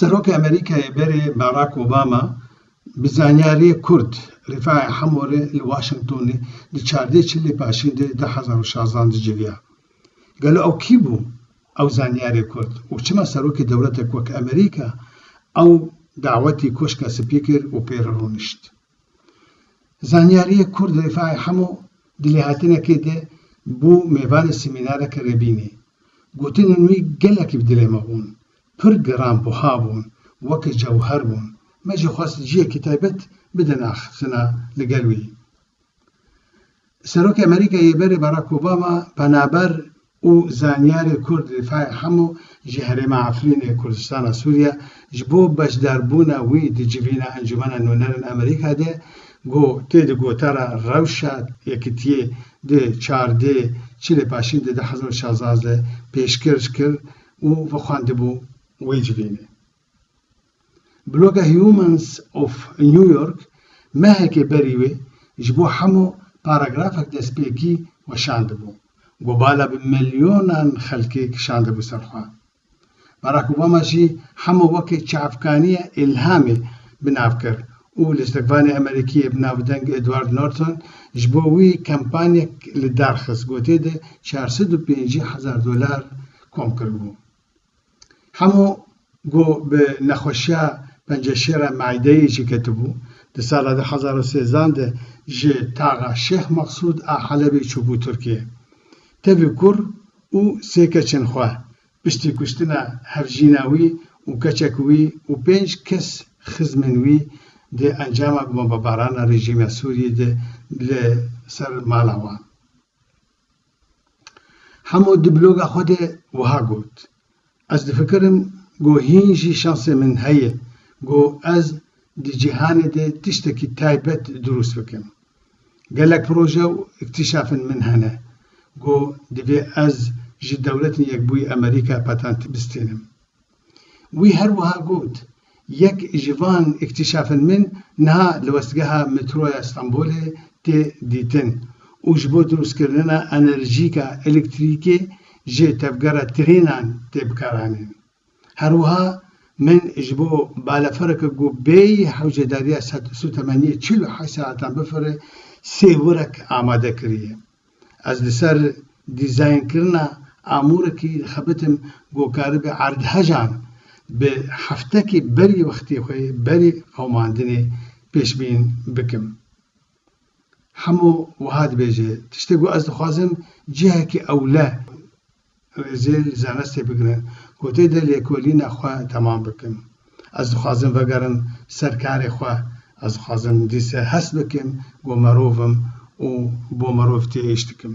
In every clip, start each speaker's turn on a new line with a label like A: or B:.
A: Serokê Amerîkayê berê Barack Obama bi zanyariyê Kurd Rîfaî Hemorê li Washingtonê di çardê çilê paşîn de du hezar û şazan de civiya. Gelo ew kî bû? Ew zanyarê kurd û çima serokê dewletek wek Amerîka ew dawetî Koşka Spî kir û pê re rûnişt. Zanyariyê kurd Rîfai Hemo di lêhatinekê de bû mêvanê semînareke rêbînê. Gotinên wî gelekî bi dilê me bûn. Pir giran buha bûn, weke cewher bûn. Me jî xwest ciyekî taybet bidin axiftina li gel wî. Serokê Amerîkayê yê berê Barack Obama penaber û zanyarê Kurd li Faiq Hemo ji herêma Efrînê Kurdistana Sûriye ji bo beşdarbûna wî di civîna Encûmena Nûnerên Amerîka de got, Tê di gotara rewşa yekitiyê di çardê çi lê paşîn di du hezar û şazdeh de pêşkirj kir û vixwendibû wê civînê. Bloga Humans of New York mehekê berî wê ji bo hemû paragrafek destpêkî weşandibû ku bala bi milyonan xelkê kişandibû ser xwe. Barack Obama jî hemû wekî çavkaniya îlhamê bi nav kir û lîstikvanê Amerîkiyê bi navdeng Edward Norton ji bo wî kampanyek li dar xist ku tê de çar sed û pêncî hezar dolar kom kiribû. Hemû ku bi nexweşiya penceşêra meîdeyê jî ketibû, di sala du hezar û sêzan de ji taxa Şêx Meqsûd a Helebê çûbû Tirkiyê. Tevî kur û sê keçên xwe, piştî kuştina hevjîna wî û keçek wî û pênc kes xizmên wî di encama bombebarana rejîma Sûriyê de li ser mala wan. Hemo di bloga xwe de wiha got, Ez difikirim ku hîn jî şansê min heye ku ez di cîhanê de tiştekî taybet dirûst bikim. Gelek proje û îktîşafên min hene ku divê ez ji Dewletên Yekbûyî Amerîkayê patent bistînim. Wî her wiha got, Yek ji van îktîşafên min niha li westgeha metroya Stenbolê tê dîtin û ji bo drustkirina enerjîka elektrîkê ji tevgera trênan tê bikaranîn. Her wiha min ji bo balefereke ku bêyî hewcedariya sutemeniyê çil û heşt saetan bifire sê wirek amade kiriye. Ez li ser dîzaynkirina amûrekî dixebitim ku karibe erdhejan bi heftekê berî wextê xwe yê berî qewimandinê pêşbîn bikim. Hemû wiha dibêje, tiştê ku ez dixwazim cihekî ewle Ew ê zêr li zanistê bigire ku tê de lêkolîna xwe temam bikim. Ez dixwazim vegerim ser karê xwe. Ez dixwazim dîse hest bikim ku merov im û bo merov tê îş dikim.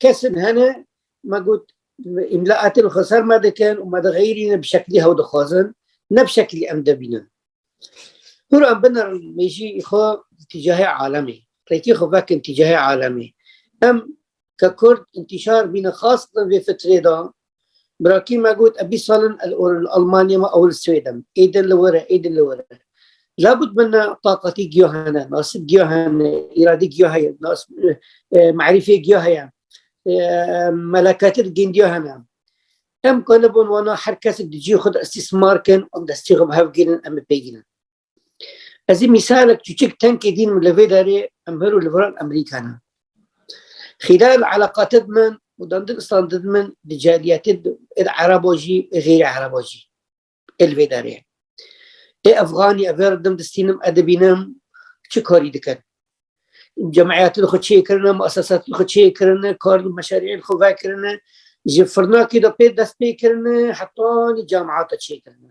A: kesin hene me got îmlaatên xwe ser me dikin û me dixeyrîne bi şeklî hew dixwazin ne bi şeklî em debînin Huran binar mejî xwe tîcahê alemî rêkî xwe vekin tîcahê alemî em ke kurd intîşar bîne xas vê fitrê de Brakî me got e bîst sal in ez or li Almanyê me ew li Swêd im. Êdin li wir e, êdin li wir e. Labut min ne taqatî giya hene, nasib giya hene, îradî giya heye, merîfê giya heye, melekatî gindiya hene. Em kalibon wana her kesek di cî xwe de îstîsmar kin, em destî xwe bi hev girin, em bi pê girin. Ez ê mîsalek çûçik tenkê dîn li vê derê em her û li viran Amerîka ne. Xîlal eleqate di min û dandin istan di min di caliyetê êd erebo jî ê xêrê erebo jî ê li vê derê. Ê Efxanî ev ver dim distînim e dibînim çi karî dikin. Cemiyetê xwe çê kirine, muesesatê xwe çê kirine, kar meşeriyên xwe vekirine, ji firnakê de pê dest pê kirine, hetanî camiyata çê kirine.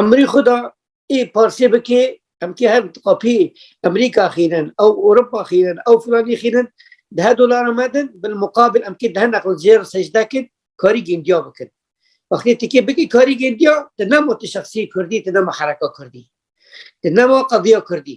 A: Emirî xwe da ê parsê bikê em kê her qapî Emirîka xînin ew Ewropa xînin ew filanî xînin dehe dolara me din bil muqabil em kê dehe neql jêr secde kin karî gêndiya bikin. Wextê tu kê bikî karî gêndiya tu nema tu şexsiyê Kurdî tu nema hereka Kurdî. Tu nema qediya Kurdî.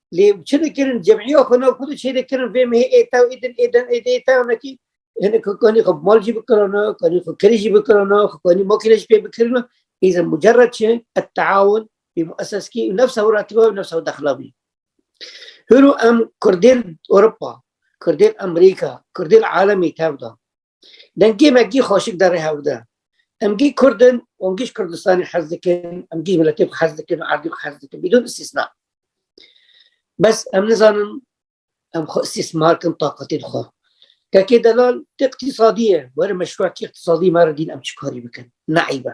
A: lê çi dikirin cemîya xwe nav xwe dû çêrê kirin vê mehê ê tew ê din ê din ê dê tew nekî hinê xwe kanî xwe mal jî bikirana kanî xwe kirî jî bikirana xwe kanî makîne jî pê bikirina îzin mucerred çi et teawun bî muesseskî û nefsa wira tiba û nefsa dexla bî hûn û em kurdên Ewropa kurdên Amerîka kurdên alemî tev da Deng gê me gî xweşik de rê hewde. Em gî Kurdin û em gîş Kurdistanê hez dikin, em gîş miletê xwe hez dikin û erdê xwe hez dikin bîdûn îstîsna. Bes em nizanin em xwe îstîsmar kin taqetê di xwe. Kekê delal tê iqtîsadî ye, were meşruatî iqtîsadî me re dîn em çikarî bikin. Neîb e.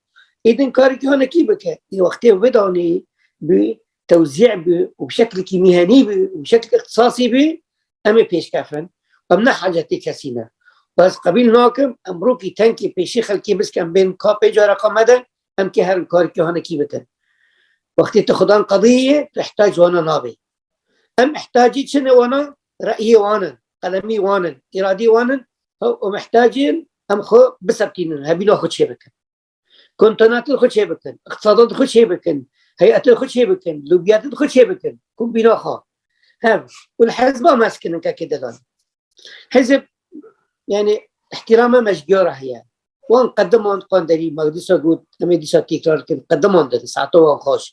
A: Êdin karê ki hane kî bike. Ê wextê wê danê bi tewzî bi û bi şeklekî mîhenî bi û bi şeklekî ixtisasî bi em ê pêşkefin. Em ne hacetê kesî ne. Ez qebîl nakim em rokî tenkê pêşî xelkê bisk em bên ka pê cara ka me de em kê herin karê ki hane kî bikin. Wextê tu xudan qediyê tu hetac wana nabê. Em mihtacî çi ne wana reyê wan in, qelemî wan in, îradî wan in û mihtacîn em xwe biseptînin, hevîna xwe çê bikin. Kontonatin xwe çê bikin, îqtisadan xwe çê bikin, heyetên xwe çê bikin, lûbiyatin xwe çê bikin, kombîna xwe. Hev û li hezba mezkinin kekê didan. Hizb yani îhtîrama mejgiyora heye. Wan qediman qanderî me dîsa got em ê dîsa têkrar dikin qediman din saeta wan xweş.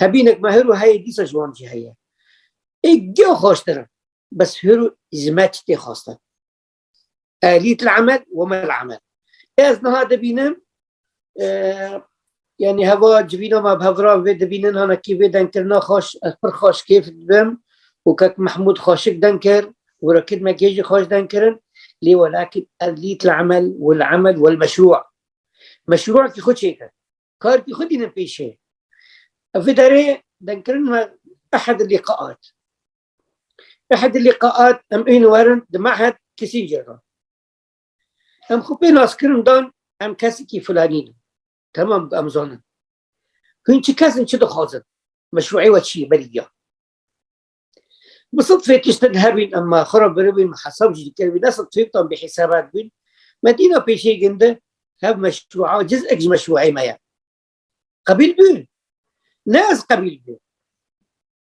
A: Hebînek me hir û heyê dîsa ji wan jî heye. Ê giya xweştir in bes hir û ji me çi tê xwestin. Elît li emel weme li emel. Ez niha dibînim Yanî heva civîna me bi hevrang vê dibînin hanekî vê dengkirina xweş ez pir xweş kêf dibim û kek Mehmûd xweşik deng kir û Rekîb Megê jî xweş deng kirin lê welakin ez lît li emel û li emel wel meşrû meşrûkî xwe çêkir karkî xwe dînin pêşê. Ev vê derê dengkirin me ehd lîqaat ehd lîqaat em ên werin di mehd Kîsîncê re. Em xwe pê naskirin dan em kesekî filanî ne. Temam em zanin. Hûn çi kesin çi dixwazin? Meşruî we çi ye berî ya. Bi sed fêk tiştin hebîn em xwe re biribîn hesab jî dikevîn ne sed fêktan bê hîsabek bîn. Me dîna pêşê ginde hev meşruî ciz ek ji meşruî me ye. Qebîl bû? Ne ez qebîl bû.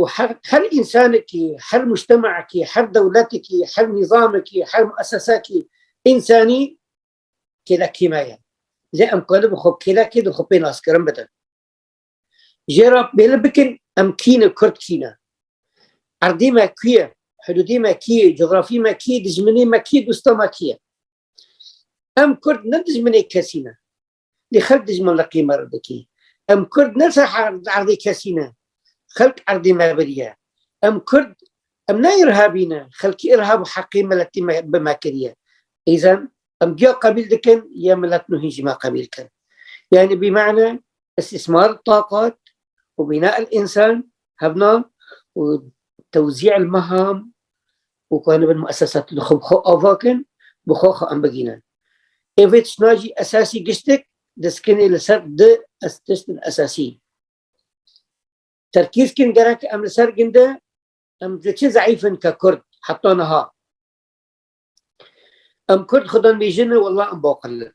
A: û her her însanekî, her mujtemekî, her dewletekî, her nîzamekî, her muessesekî însanî kêlekî me ye. Lê em qali bi xwe kêlekê di xwe pê naskirin bidin. Jê re bêli bikin em kî ne Kurd kî ne. Erdê me kî ye, hidûdê me kî ye, cografî me kî ye, dijminê me kî ye, dosta me kî ye. Em Kurd ne dijminê kesî ne. Lê xelk dijmin liqî me re dikê. Em kurd ne serherd erdê kesî ne. Xelk erdê me birî ye. Em kurd em ne îrhabî ne. Xelkî îrhab û heqê miletî me bi me kiriye. Îzan em giya qebîl dikin ya milet nû hîn ji me qebîl kin. Yanî bi mane îstîsmar taqat û bîna însan hebna û tewzî îlmeham û ku em dibin muessesat li xwe bi xwe ava kin, bi xwe xwe em bigihînin. Ê vê tiştna jî esasî giştek diskine li ser du tiştin esasî. Terkîz kin gerek em li ser ginde em li çi zeîf in ke Kurd heta niha. Em Kurd xwe dibêjin walla em baqil in.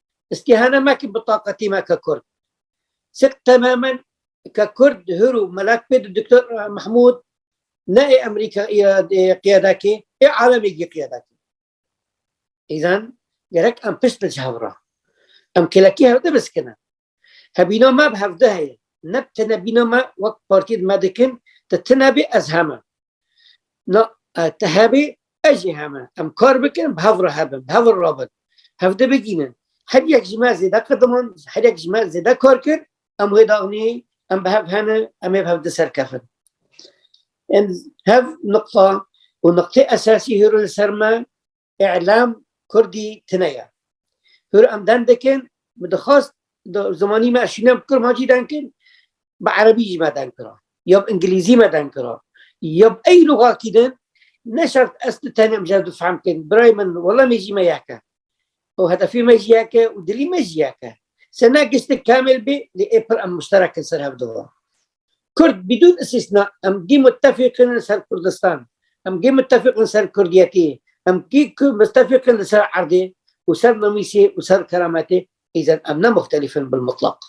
A: İstihane me ki bitaqetî me ke Kurd. Sik temamen ke Kurd hür û melek pê di Doktor Mahmud ne ê Amerîka qiyadakê ê alemê gî qiyadakê. İzan gerek em pişt bin hevra. Em kelekî hevde biskine. Hebîna me bi hevde heye. Ne tine bîna me wek partî me dikin te tine bê ez heme. Na te hebê ez jî heme em kar bikin bi hev re hebin bi hev re rabin hev de bigînin her yek ji me zêde qediman her yek ji me zêde kar kir em wê daxnî em bi hev hene em ê bi hev di ser kefin em hev nuqta û nuqtê esasî hêro li ser me E'lam Kurdî tine ye. Hür em den dikin, min dixwast zimanî me şîne bi kurd hacî den kin, bi erebî jî me den kira. Ya bi îngilîzî me den kira. Ya bi ey lûxakî din, ne şert ez tu tenê min bi fehm kin. Birayê min wela me jî me yek e. û hedefê me jî yek e û dilî me jî yek e. Sena giştî kamil bî lê ê pir em muşterek in ser hev di va. Kurd bidûn îstîsna em gî mutefîq in li ser Kurdistan, em gî mutefîq in li ser kurdiyetî, em gî mutefîq in li ser erdê û ser namîsê û ser kerametê, îzan em ne muxtelîf in bil mutlaq.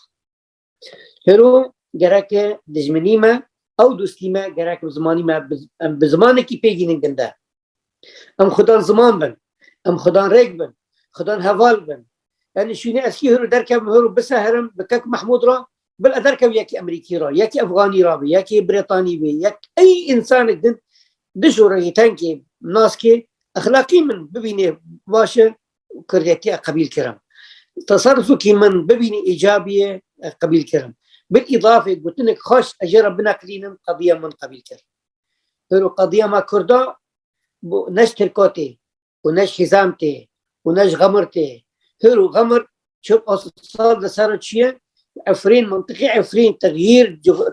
A: Hêro gereke dijminî me ew dostî me gerek bi zimanî me em bi zimanekî pê gînin gunde. Em xudan ziman bin. Em xudan rêk bin. Xudan heval bin. Yani şûnê ez kî hêro derkevim hêro biseherim bi kek Mahmud ra bil e derkev yekî Emerîkî ra, yekî Efganî ra bê, yekî Brîtanî bê, yek ey însanek din dijûre yê tenkê naskê exlaqî min bibînê baş e Kurdiyetî e qebîl kirim. Tasarrufekî min bibînê îcabî ye qebîl kirim. Bil îdafê gotinek xweş ez jê re bineqilînim qediya min qebîl kir. Îro qediya ma kurd a bo ne ji tirka tê û ne ji hîzan tê û ne ji xemir tê. Îro xemir çil a sal li ser re çiye Efrîn mintiqê Efrîn texyîr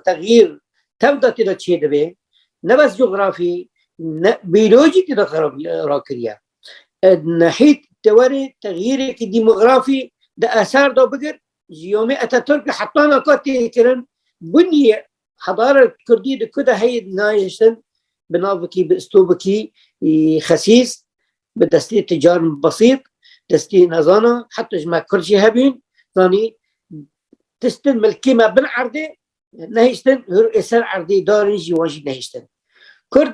A: texyîr tev de tê de çê dibê ne bes cografî ne bîyolojî tê de xerab rakiriye. Nehît tewerê texyîrêkî dîmografî di eser de bigir ji yomê Atatürk li hetana ka tê kirin biniyê Hebara Kurdî di ku de heyê nayêştin bi navekî bi istobekî xesîs bi destê ticar besît destê nezana heta ji me Kurd jî hebîn zanî tistin milkê me bin erdê nehiştin hir êser erdê darên jî wan jî nehiştin Kurd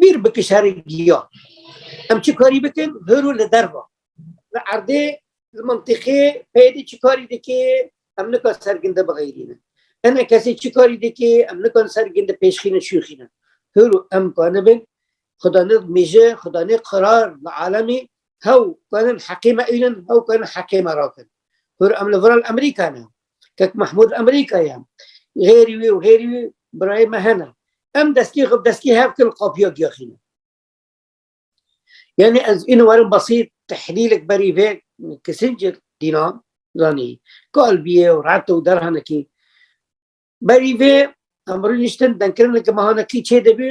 A: Bîr bike şerê giyan. Em çi karî bikin hir û li derva. Li erdê li mintîqê peyê çi karî dikê em nika ser ginde bixeyrînin. Hene kesê çi karî dikê em nikan ser ginde pêşxînin şûxînin. Hir û em ka nibin xuda ne mîje xuda ne qirar li alemî hew kanin heqê me ênin hew kanin heqê me rakin. Hir em li viral Emerîka ne. Kek Mahmud Amerîka ye. Hêrî wî û hêrî wî birayê me hene. Em destî xwe bi destî hev kin qapiya giyaxîne. Yani ez ino werim basît tehlîlek berî vê Kissinger dîna zanî kalbiyê û rete û derhanekî berî vê em birî niştin denkirine ki mehanekî çê dibî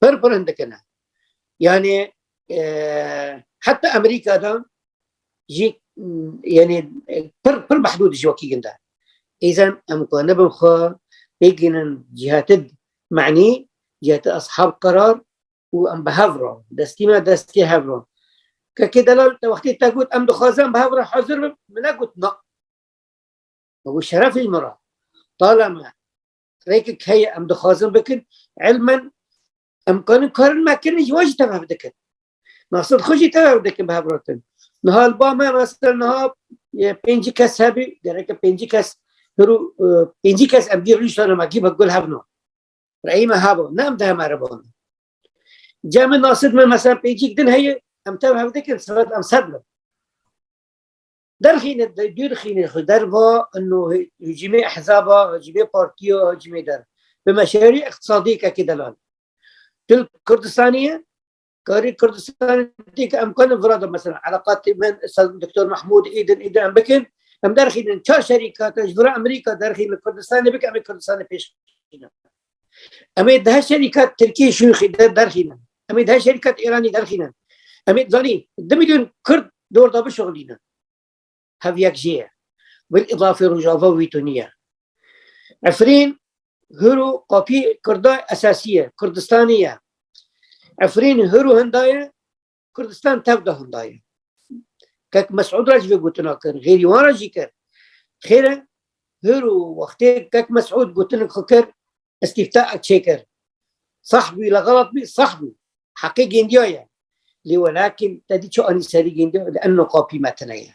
A: Pir pir hindikine. Yani e, hatta Amerika'da jî yani pir pir mehdûd ji wekî ginda. Îzan em ku nebin xwe bêgînin cihati manî, cihati ashab karar û em bi hev ron, destî me destê hev ron. Kekê delal te wextê te got em dixwazin bi hev re hazir bim, min negot na. Ew şerefê min re. Talama rêkek heye em dixwazin bikin elmen em kanin karin me kirin ji wan jî tev hev dikin nasir xwe jî tev hev dikin bi hevratin niha li ba me nasir niha pêncî kes hebî gereke pêncî kes hirû e, pêncî kes em dî rîştana me gî bi gul hevna reyîme hebo ne em diheme rebana cemê nasir me mesela pêncîk din heye em tev hev dikin siret em sed bin Derxîne dûrxîne xwe derva ino hicîmê ehzaba, hicîmê partiya, hicîmê der. Bi meşerî iqtisadî kekê delal. Dil Kurdistanî ye, karî Kurdistanî tê ke em karin vira de mesela eleqatê min Doktor Mehmûd îdin îdin em bikin. Em derxînin çar şerîkate ji vira Amerîka derxîn li Kurdistanê bike em ê Kurdistanê pêş bixînin. Em ê di her şerîka Tirkiyê şûnxî de derxînin. Em ê di her şerîka Îranî derxînin. Em ê zanî di milyon Kurd di orda bişuxilînin. Hev yek jê ye. Bil îdafê Rojava wî tu niye. Efrîn hir û qapî Kurda esasî ye, Kurdistanî ye. Efrîn hir û hinda ye, Kurdistan tev de handa ye. Kek Mesud re ji vê gotina kir, xêrî wan re jî kir. Xêr e hir û wextê kek Mesud gotinik xwe kir, îstîfta ek çêkir. Sax bû la xelat bî, sax bû. Heqê gêndiya ye. Lê welakîn te dî çi anî serî gêndiya de enno qapî me tine ye.